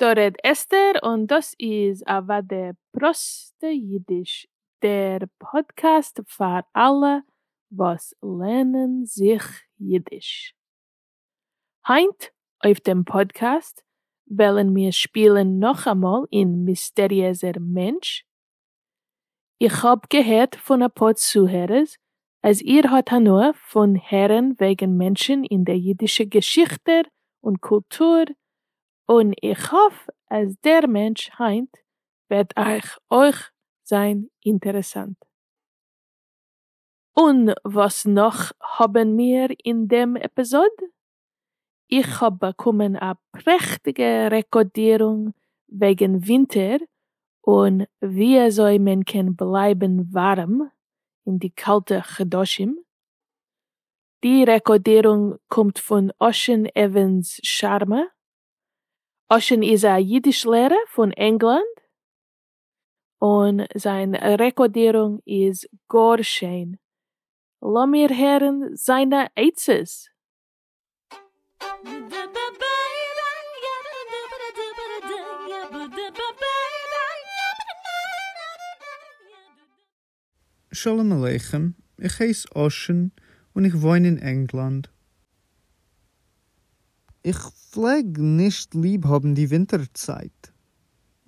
דא רעד אסתר און דאס איז אוואדע פראסטע אידיש, דער פאדקעסט פאר אלע וואס לערנען זיך אידיש. היינט אויף דעם פאדקעסט וועלן מיר שפילן נאכאמאל אין מיסטעריעזער מענטש איך האב געהערט פון אפאר צוהערערס אז איר האט הנאה פון הערן וועגן מענטשן אין די אידישע געשיכטער און קולטור, און איך האף אז דער מענטש היינט וועט אייך אויך זיין אינטערעסאנט. און וואס נאך האבן מיר אין דעם עפיזאד? איך האב באקומען א פרעכטיגע רעקאדירונג וועגן ווינטער און ווי אזוי מען קען בלייבן ווארעם אין די קאלטע חדשים. די רעקאדירונג קומט פון אשען עווענס שארמא. אשען איז א אידיש לערער פון ענגלאנד און זיין רעקאדירונג איז גאר שיין לאמיר הערן זיינע עצות. שלום עליכם, איך הייס אשען און איך וואוין אין ענגלאנד. איך פלעג נישט ליב האבן די ווינטער צייט.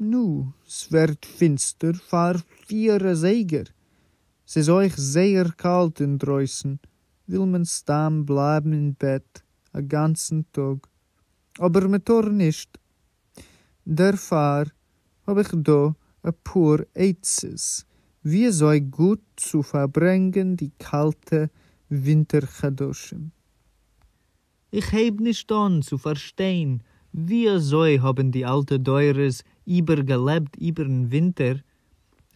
נו, ס'ווערט פינסטער פאר פיהר אזייגער, ס'איז אויך זייער קאלט אינדרויסן, וויל מען סתם בלייבן אין בעט א גאנצן טאג, אבער מ'טאר נישט. דערפאר האב איך דא אפאר עצות וויאזוי גוט צו פארברענגען די קאלטע ווינטער חדשים. איך הייב נישט אן צו פארשטיין ווי אזוי האבן די אלטע דורות איבער געלעבט איבערן ווינטער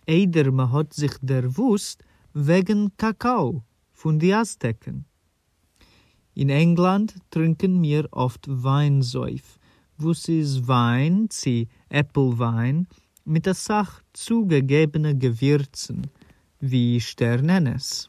איידער מען האט זיך דערוואוסט וועגן קאקאו פון די אזטעקן. אין ענגלאנד טרינקען מיר אפט וויין זויף וואס איז וויין צו עפל וויין מיט אסאך צוגעגעבנע געווירצן ווי שטערנענעס.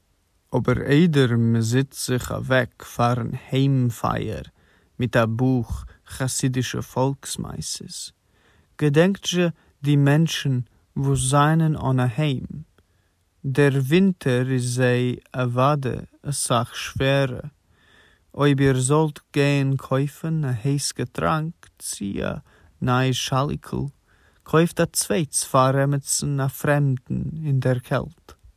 אבער איידער מ'זיצט זיך אוועק פארן היים פייער מיט א בוך חסידישע פאלקס-מעשה'ס, געדענקט'זשע די מענטשן וואס זענען אן א היים. דער ווינטער איז זיי אוואדע אסאך שווערע. אויב איר זאלט גיין קויפן א הייס געטראנק צי א ניי שאליקל, קויפט א צווייטס פאר עמיצן א פרעמדן אין דער קעלט.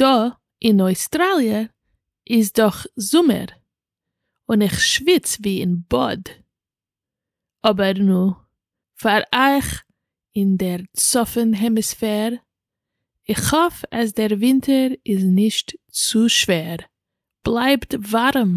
דא אין אויסטראליע איז דאך זומער און איך שוויץ ווי אין באד, אבער נו, פאר אייך אין דער צפון העמיספער, איך האף אז דער ווינטער איז נישט צו שווער, בלייבט ווארעם!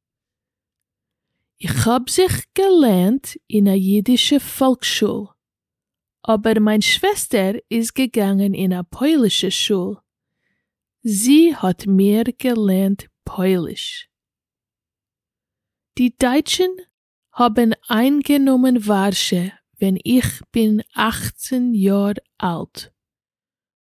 איך האב זיך געלערנט אין א אידישע פאלקסשול, אבער מיין שוועסטער איז געגאנגען אין א פוילישע שול, זי האט מיר געלערנט פויליש. די דייטשן האבן איינגענומען ווארשע ווען איך בין אַכצן יאר אלט,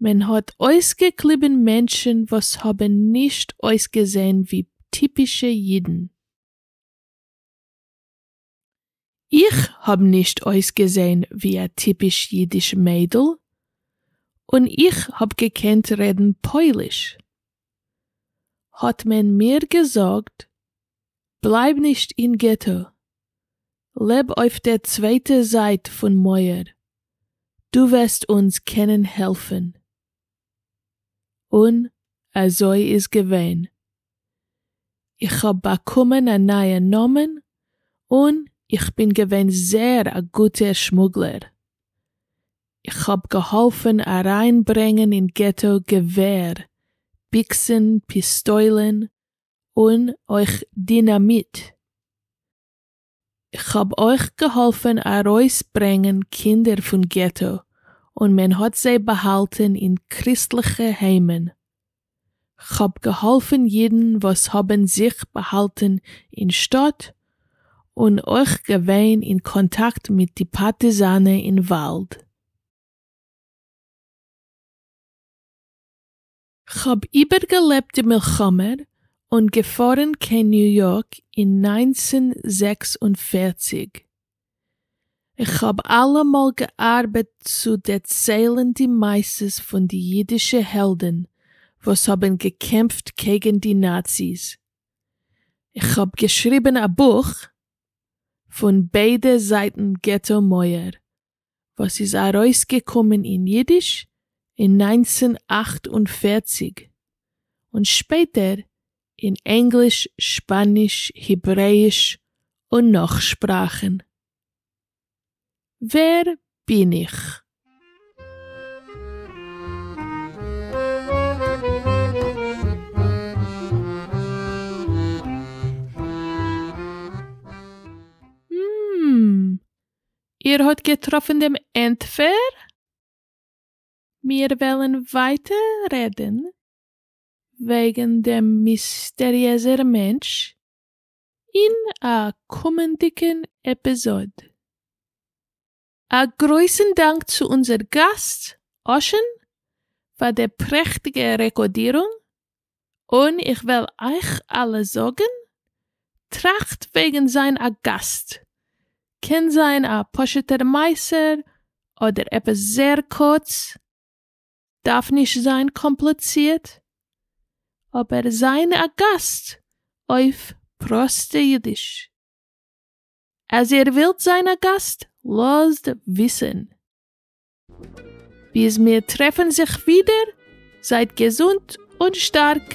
מען האט אויסגעקליבן מענטשן וואס האבן נישט אויסגעזען ווי טיפישע אידן. איך האב נישט אויסגעזען ווי א טיפיש אידיש מיידל, און איך האב געקענט רעדן פויליש. האט מען מיר געזאגט בלייב נישט אין געטא, לעב אויף דער צווייטער זייט פון מויער, דו וועסט אונז קענען העלפן. און אזוי איז געווען. איך האב באקומען א נייע נאמען און איך בין געווען זעהר א גוטער שמוגלער. איך האב געהאלפן אריינברענגן אין געטא געווער, ביקסן, פיסטוילן, און אויך דינאמיט. איך האב אויך געהאלפן ארויסברענגן קינדער פון געטא און מען האט זיי באהאלטן אין קריסטליכע היימען. כ'האב געהאלפן אידן וואס האבן זיך באהאלטן אין שטאט, און אויך געווען אין קאנטאקט מיט די פארטיזאנע אין וואלד. כ'האב איבערגעלעבט די מלחמה און געפארן קיין ניו יארק אין נײַנצן זעקס און פֿערציק, כ'האב אלעמאל געארבעט צו דערציילן די מעשות פון די אידישע העלדן וואס האבן געקעמפט קעגן די נאציס. כ'האב געשריבן א בוך פון ביידע זייטן געטא מויער וואס איז ארויסגעקומען אין אידיש אין נײַנצן אַכט און פֿערציק און שפעטער אין ענגליש, שפאניש, היברעאיש, און נאך שפראכן. ווער בין איך? המממ. איר האט געטראפן דעם ענטפער? מיר וועלן ווייטער רעדן. וועגן דעם מיסטעריעזער מענטש אין א קומענדיגן עפיזאד. א גרויסן דאנק צו אונזער גאסט אשען פאר די פרעכטיגע רעקאדירונג, און איך וועל אייך אלע זאגן, טראכט וועגן זיין א גאסט, קען זיין א פשוט'ער מעשר אדער עפעס זעהר קורץ, דארף נישט זיין קאמפלעצירט, אבער זיין א גאסט אויף פראסטע אידיש. אז איר ווילט זיין א גאסט לאזט וויסען. ביז מיר טרעפען זיך ווידער זייט געזונט און שטארק.